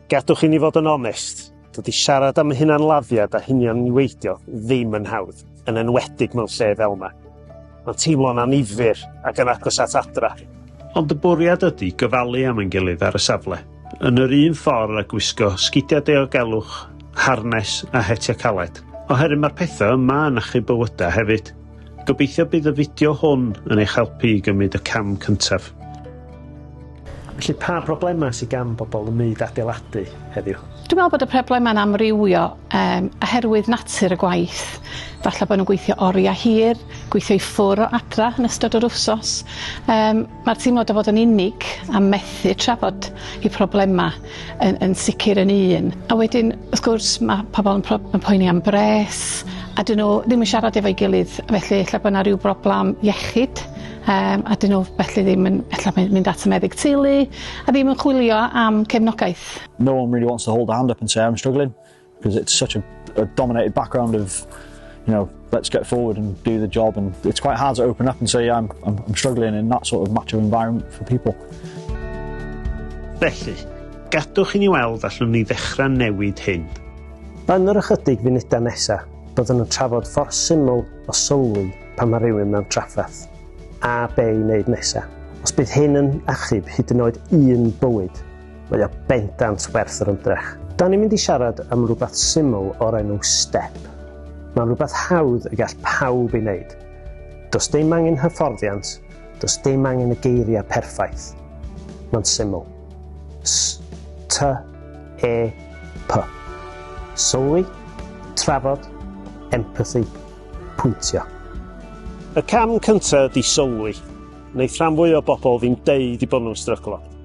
Gadwch i ni fod yn onest, dydy siarad am hunanladdiad a hunion niweidio ddim yn hawdd, yn enwedig mewn lle fel yma. Mae'n teimlo'n anifyr ac yn agos at adra. Ond y bwriad ydy gyfalu am ein gilydd ar y safle, yn yr un ffordd a gwisgo sgidiau diogelwch, harnes a hetiau caled, oherwydd mae'r pethau yma yn achub bywydau hefyd. Gobeithio bydd y fideo hwn yn eich helpu i gymryd y cam cyntaf. Felly pa broblemau sydd gan bobl ym myd adeiladu heddiw? Dwi'n meddwl bod y problemau'n amrywio um, oherwydd natur y gwaith. Falle bod nhw'n gweithio oriau hir, gweithio i ffwr o adra yn ystod yr wsos. Um, Mae'r teimlad o fod yn unig a methu trafod y problemau yn yn sicr yn un. A wedyn wrth gwrs mae pobl yn pro- yn poeni am bres a 'dyn nhw ddim yn siarad efo'i gilydd felly ella bod 'na ryw broblam iechyd yym a 'dyn nhw felly ddim yn ella mynd mynd at y meddyg teulu a ddim yn chwilio am cefnogaeth. No one really wants to hold a hand up and say I'm struggling. Because it's such a, a dominated background of, you know, let's get forward and do the job. And it's quite hard to open up and say, yeah, I'm, I'm, I'm struggling in that sort of macho environment for people. Felly, gadwch i ni weld allwn ni ddechrau newid hyn. Yn yr ychydig funudau nesaf, byddwn yn trafod ffordd syml o sylwi pan mae rhywun mewn trafferth, a be i wneud nesaf. Os bydd hyn yn achub hyd yn oed un bywyd, Mae o bendant werth yr ymdrech. Da ni'n mynd i siarad am rhywbeth syml o'r enw step. Mae'n rhywbeth hawdd y gall pawb ei wneud. Does dim angen hyfforddiant, does dim angen y geiriau perffaith. Mae'n syml. S, T, E, P. Sylwi, trafod, empathy, pwyntio. Y cam cyntaf ydy sylwi. Wneith rhan fwy o bobl ddim deud i bod nhw'n stryglo.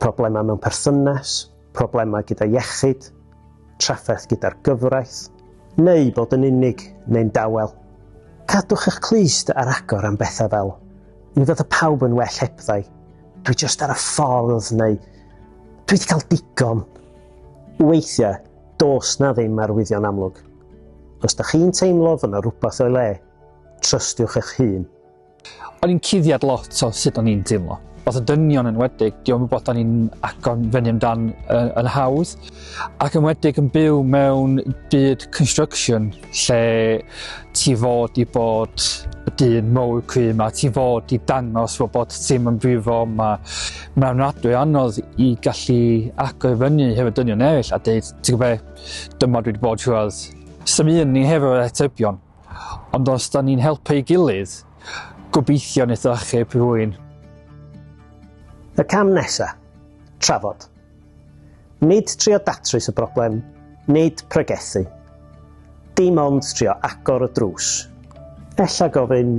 problemau mewn perthynas, problemau gyda iechyd, trafferth gyda'r gyfraith, neu bod yn unig neu'n dawel. Cadwch eich clust ar agor am bethau fel, mi fydda pawb yn well hebddau, dwi just ar y ffordd neu dwi wedi cael digon. Weithiau, dos na ddim arwyddion amlwg. Os da chi'n teimlo fod yna rhywbeth o'i le, trystiwch eich hun. O'n i'n cuddiad lot o sut o'n i'n teimlo. Os y dynion yn wedig, diolch yn bod o'n i'n agor fyny amdan yn, yn hawdd, ac yn wedig yn byw mewn byd construction lle ti fod i bod y dyn mowr cry yma, ti fod i dangos fod bod ti'n yn brifo yma. Mae'n ofnadwy anodd i gallu agor fyny hefyd dynion eraill a dweud, ti'n gwybod, dyma dwi wedi bod rhywbeth. Symud ni hefyd o'r atebion. Ond os da ni'n helpu ei gilydd, gobeithio wneith o achub rhywun. Y cam nesa, trafod. Nid trio datrys y broblem, nid pregethu. Dim ond trio agor y drws. Ella gofyn,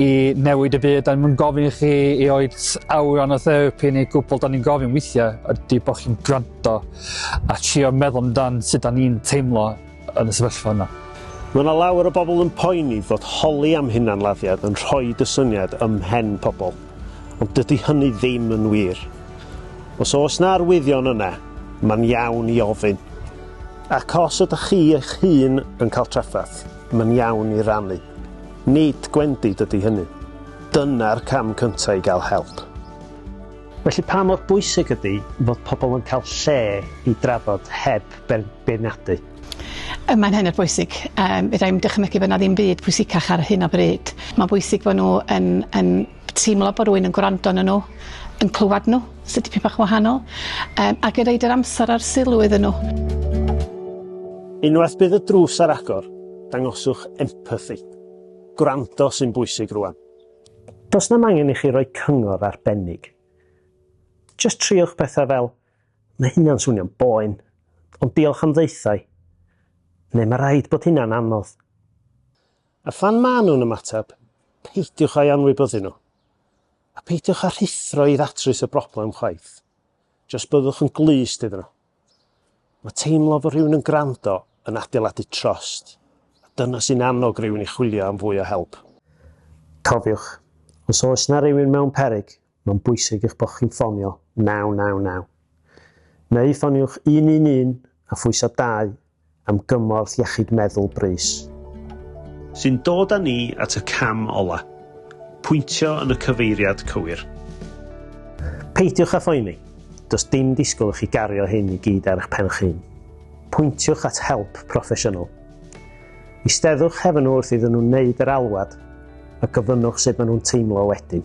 i newid y byd, da ni'n gofyn i chi i oed awran o therapi neu gwbl, da ni'n gofyn weithiau ydy bod chi'n gwrando a trio meddwl amdan sut da ni'n teimlo yn y sefyllfa yna. Mae yna lawer o bobl yn poeni fod holi am hunanladdiad yn rhoi y syniad ym mhen pobl, ond dydy hynny ddim yn wir. Os oes na arwyddion yna, mae'n iawn i ofyn. Ac os ydych chi eich hun yn cael trafferth, mae'n iawn i rannu. Nid gwendid ydy hynny. Dyna'r cam cyntaf i gael help. Felly pa mor bwysig ydy fod pobl yn cael lle i drafod heb beirniadu? Mae'n hynod bwysig. Yym fedra i'm dychymygu bod 'na ddim byd pwysicach ar hyn o bryd. Mae'n bwysig bod nhw yn yn teimlo bod rhywun yn gwrando arnyn nhw, yn clywed nhw, sy'n dipyn bach yn wahanol, yym ac yn roid yr amser a'r sylw iddyn nhw. Unwaith bydd y drws ar agor, Dangoswch empathi. Gwrando sy'n bwysig rwan. Does na'm angen i chi roi cyngor arbennig. Jyst triwch pethau fel, Mae hynna'n swnio'n boen, ond diolch am ddaethau, neu Mae rhaid bod hynna'n anodd. A phan maen nhw'n ymateb, peidiwch â'i anwybyddu nhw. A peidiwch â rhuthro i ddatrys y broblem chwaith. Jyst byddwch yn glust iddyn nhw. Mae teimlo fod rhywun yn gwrando yn adeiladu trost, a dyna sy'n annog rhywun i chwilio am fwy o help. Cofiwch, os oes yna rywun mewn peryg, mae'n bwysig eich bod chi'n ffonio 999. Neu ffoniwch 111 a phwyso 2 am gymorth iechyd meddwl brys. Sy'n dod â ni at y cam ola', pwyntio yn y cyfeiriad cywir. Peidiwch â phoeni, does dim disgwyl i chi gario hyn i gyd ar eich pen'ch hun. Pwyntiwch at help proffesiynol. Eisteddwch hefo nhw wrth iddyn nhw wneud yr alwad a gofynnwch sut maen nhw'n teimlo wedyn.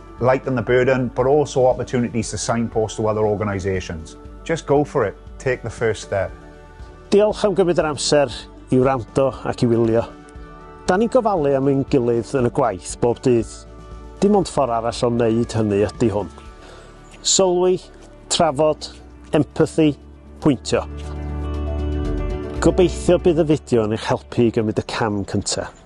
Lighten the burden, but also opportunities to signpost to other organisations. Just go for it, take the first step. Diolch am gymryd yr amser i wrando ac i wylio. Da ni'n gofalu am ein gilydd yn y gwaith bob dydd. Dim ond ffordd arall o wneud hynny ydy hwn. Sylwi, trafod, empathy, pwyntio. Gobeithio bydd y fideo yn eich helpu i gymryd y cam cyntaf.